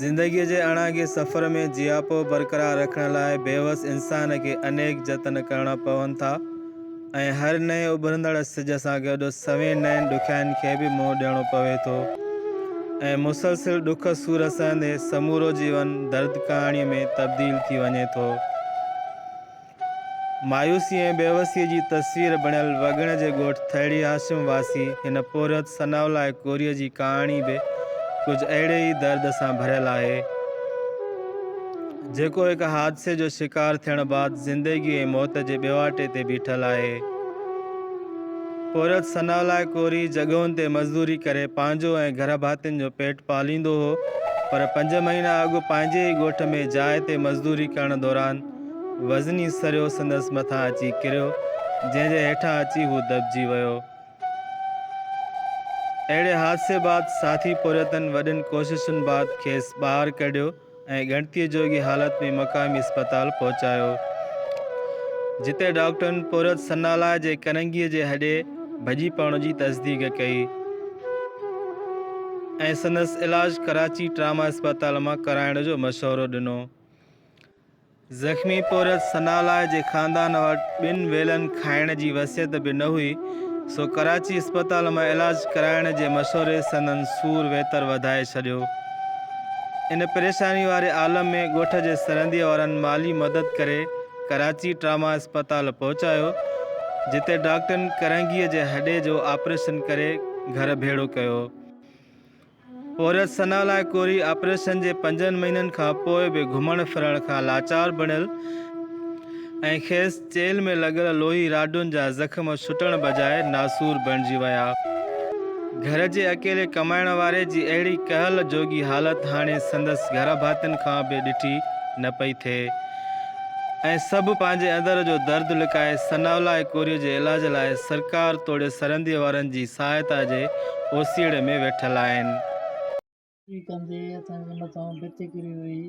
زندگيء جي اڻانگي سفر ۾ جياپو برقرار رکڻ لاء بيوس انسان کي انيڪ جتن ڪرڻا پون ٿا ۽ هر نئين اڀرندڙ سج سان گڏ سوين نين ڏکيائين کي به منهن ڏيڻو پوي ٿو ۽ مسلسل ڏک سور سهندي سمورو جيون درد ڪهاڻيء ۾ تبديل ٿي وڃي ٿو. مايوسيء ۽ بيوسيء جي تصوير بڻيل وڳڻ جي ڳوٺ ٿهڙي هاشم واسي هن پورهيت ثناء الله ڪوريء جي ڪهاڻي به ڪجهه اهڙي ئي درد سان ڀريل آهي، جيڪو هڪ حادثي جو شڪار ٿيڻ بعد زندگي ۽ موت جي ٻيواٽي تي بيٺل آهي. پورهيت ثناء الله ڪوري جڳهن تي مزدوري ڪري پنهنجو ۽ گهر ڀاتين جو پيٽ پاليندو هو، پر پنج مهينا اڳ پنهنجي ئي ڳوٺ ۾ جاء تي مزدوري ڪرڻ دوران، وزني سريو سندس مٿان اچي ڪريو، جنهن جي هيٺان اچي هو دٻجي ويو. اهڙي حادثي بعد ساٿي پورهيتن وڏين ڪوششن بعد کيس ٻاهر ڪڍيو ۽ ڳڻتيء جوڳي حالت ۾ مقامي اسپتال پهچايو، جتي ڊاڪٽرن پورهيت سنالاء جي ڪنگيء جي هڏي ڀڄي پوڻ جي تصديق ڪئي ۽ سندس علاج ڪراچي ٽراما اسپتال مان ڪرائڻ جو مشورو ڏنو. زخمي پورهيت ثناالله جي خاندان وٽ ٻن ويلن کائڻ جي وصيت به نه هئي، سو ڪراچي اسپتال مان علاج ڪرائڻ جي مشوري سندن سور ويتر وڌائي ڇڏيو. ان پريشاني واري عالم ۾ ڳوٺ جي سرنديء وارن مالي مدد ڪري ڪراچي ٽراما اسپتال پهچايو، جتي ڊاڪٽرن ڪرنگهيء جي هڏي جو آپريشن ڪري گهر ڀيڙو ڪيو. عورت ثنا لاء ڪوري آپريشن جي پنجن مهينن کان پوء به گهمڻ ڦرڻ کان لاچار بڻيل ۽ کيس چيلهه ۾ لڳل لوهي راڊن جا زخم ڇٽڻ بجاء ناسور بڻجي ويا. گهر جي اڪيلي ڪمائڻ واري جي اهڙي ڪهل جوڳي حالت هاڻي سندس گهرڀاتين کان به ڏٺي نه پئي ٿئي. ۽ سڀ پنهنجي اندر جو درد لڪائي ثناءالله اڪوريء جي علاج لاء سرڪار توڙي سرهنديء وارن جي سهائتا جي اوسيئڙي ۾ ويٺل آهن. ايئن ڪندي اسان جي مٿان ڀت ڪري وئي.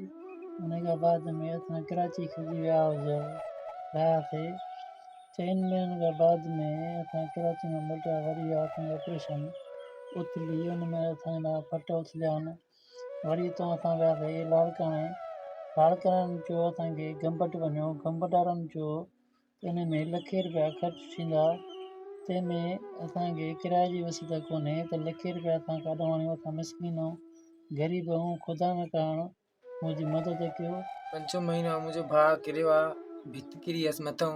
انهيء کان بعد ۾ اسان ڪراچي کڄي ويا رهياسي. چئن مهينن کان بعد ۾ اسان ڪراچي مان موٽيا وري آ اسان جو آپريشن اٿلي ان ۾ اسان جا ڦٽ اٿليا آهن. وري اتان اسان وياسي لاڙڪاڻي، لاڙڪاڻي چيو اسان کي گمبٽ وڃو، گمبٽ وارن چيو ته ان ۾ لکين رپيا خرچ ٿيندا، تنهن ۾ اسان کي ڪرايي جي وسيلو ڪونهي ته لکين رپيا اسان ڪاڏون آڻيون، اسان مسڪين آهيون، غريب آهيون، خدا نه ڪرڻ منهنجي مدد ڪيو. پنجون مهينو هو منهنجو ڀاء ڪريو آ، ڀت ڪري هيس مٿئون،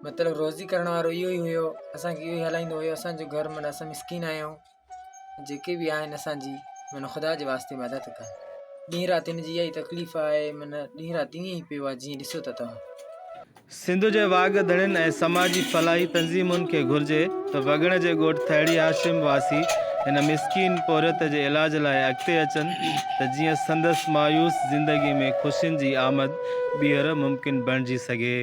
مطلب روزي ڪرڻ وارو اهو ئي هيو، اسان کي اهو ئي هلائيندو هيو، اسان جو گهر معنيٰ اسان مسڪين آهيون. جيڪي به آهن اسان جي معنيٰ خدا جي واسطي مدد ڪن ڏينهن رات هن جي اها ئي تڪليف آهي معنيٰ ڏينهن رات ائين ئي پيو آهي جيئن ڏسو ٿا توهان سنڌ جي واڳ ڌڻين ۽ سماجي فلاحي تنظيمن کي گهرجي ته وڳڻ جي ڳوٺ ٿهڙي هاشم واسي هن مسڪين پورهيت جي علاج لاء اڳتي اچن ته جيئن سندس مايوس زندگي ۾ خوشين جي آمد ٻيهر ممڪن بڻجي سگهي.